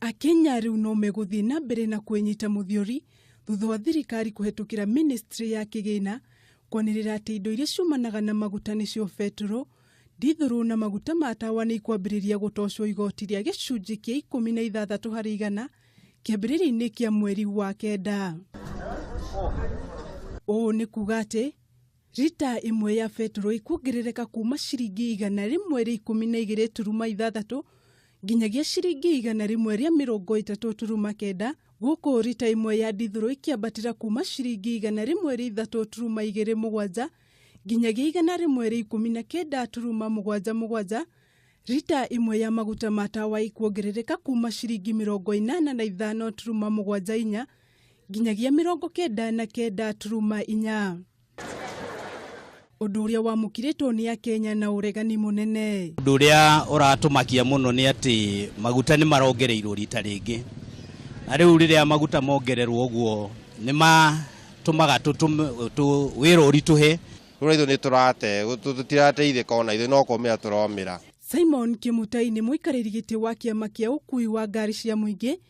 Akenya rĩu no megũthiĩ na mbere na kwĩnyita mũthiori thutha wa thirikari kũhetũkĩra ministry ya kĩgĩna kwanĩrĩra atĩ indo iria ciumanaga na maguta nĩcio betũrũ, ndithũrũ na maguta ma tawa nĩ ikwambĩrĩria gũtocwo igoti rĩa gĩcunjĩ kĩa ikũmi na ithathatũ harĩ igana kĩambĩrĩria-inĩ kĩa mweri wa kenda. Ũũ nĩ kuga atĩ Rita ĩmwe ya betũrũ ĩkuongerereka kuma ciringi igana rĩmwe rĩa ikũmi na igĩrĩ turuma ithathatũ nginyagia ciringi igana rĩmwe rĩa mĩrongo ĩtatũ turuma kenda gũkũ rita ĩmwe ya ndithũrũ ĩkĩambatĩra kuma ciringi igana rĩmwe rĩa ithatũ turuma igĩrĩ mũgwanja nginyagia igana rĩmwe rĩa ikũmi na kenda turuma mũgwanja mũgwanja rita ĩmwe ya maguta ma tawa ĩkuongerereka kuma ciringi mĩrongo ĩnana na ithano turuma mũgwanja inya nginyagia mĩrongo kenda na kenda turuma inya ũndũ ũrĩa wamũkirĩtwo nĩ akenya na ũregani mũnene ũndũ ũrĩa ũratũmakia mũno nĩ atĩ maguta nĩ marongereirwo rita rĩngĩ na rĩu rĩrĩa maguta mongererwo ũguo nĩ matũmaga wĩra ũritũhe rä ithuĩ nĩ tũrate tũtirateithĩka ona ithuĩ no kũmĩra tũromĩra simon kĩmutai nĩ mũikarĩri gĩtĩ wa kĩama kĩa ũkui wa ngari cia mũingĩ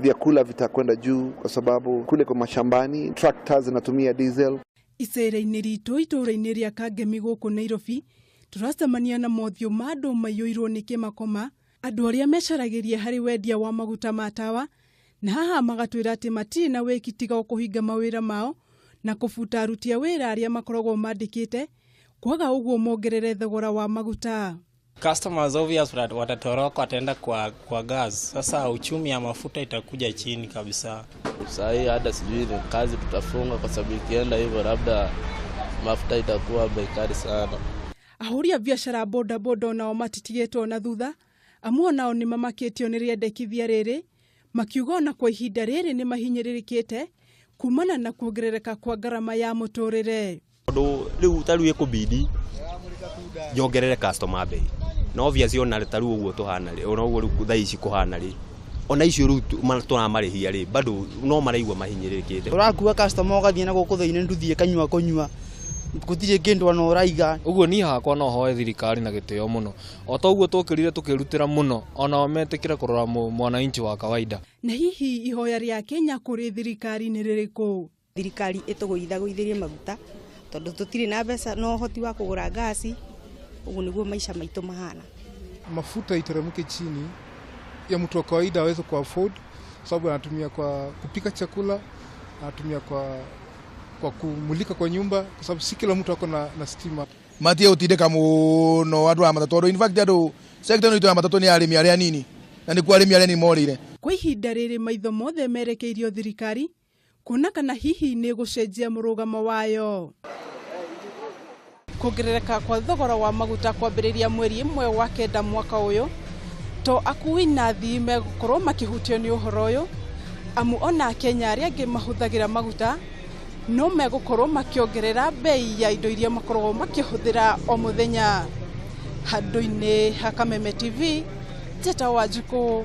Vyakula vitakwenda juu kwa sababu kule kwa mashambani trakta zinatumia diesel. Icera-inĩ ritũ itũũra-inĩ rĩa Kangemi gũkũ Nairobi, tũracemania na mothiũ ma andũ maiyũirwo nĩ kĩmakoma, andũ arĩa mecaragĩria harĩ wendia wa maguta ma tawa, na haha magatwĩra atĩ matirĩ na wĩki tiga o kũhinga mawĩra mao na kũbuta aruti a wĩra arĩa makoragwo mandĩkĩte, kwaga ũguo mongerere thogora wa maguta. Customers obvious wat- watatoroka wataenda kwa, kwa gas. Sasa uchumi ya mafuta itakuja chini kabisa. Saa hii hata sijui ni kazi tutafunga, kwa sababu ikienda hivyo labda mafuta itakuwa bei kali sana. ahũri a biacara a bodaboda o nao matitigĩtwo na thutha amu o nao nĩ mamakĩtio nĩ rĩendekithia rĩrĩ makiuga ona kwa ihinda rĩrĩ nĩ mahinyĩrĩrĩkĩte kumana na kuongerereka kwa ngarama ya mũtũrĩre Tondũ rĩu ta rĩu ĩkũbidi nyongerere customer mbei na obviously ona ta rĩu ũguo tũhana rĩ ona ũguo rĩu thaa ici kũhana rĩ ona icio rĩu tu- ma- tũramarĩhia rĩ bado no maraigua mahinyĩrĩrĩkĩte ũrakua customer ũgathiĩ na gũkũ thĩinĩ nduthi ĩkanyua kũnyua gũtirĩ kĩndũ ona ũraiga ũguo niĩ hakwa no hoe thirikari na gĩtĩo mũno o ta ũguo twokĩrire tũkĩrutĩra mũno onao metĩkĩre kũrora mũ- mwananchi wa kawaida Na hihi ihoya rĩa Kenya kũrĩ thirikari nĩ rĩrĩkũ? Thirikari ĩtũgũithagũithĩrie maguta tondũ tũtirĩ na mbeca na ũhoti wa kũgũra ngaci, ũguo nĩguo maica maitũ mahana. Mafuta iteremke chini ya mtu wa kawaida aweze ku afford, sababu anatumia kwa kupika chakula, anatumia kwa, kwa kumulika kwa nyumba, kwa sababu si kila mtu ako na, na stima. matige gutindika muno andu a matatå tondu in fact andu sector ino itu ya matatå ni arimi aria anini na nikuo arimi aria anini morire Kwa ihinda rĩrĩ maitho mothe merekeirio thirikari kuona kana hihi nĩ ĩgũcenjia mũrũgamo wayo. Kuongerereka kwa thogora wa maguta kwambĩrĩria mweri ĩmwe wa kenda mwaka ũyũ, to akui na athii megũkorwo makĩhutio nĩ ũhoro ũyũ, amu ona Akenya arĩa angĩ mahũthagĩra maguta no megũkorwo makĩongerera mbei ya indo iria makoragwo makĩhũthĩra o mũthenya. Handũ-inĩ ha Kameme TV, Njeta Wanjikũ.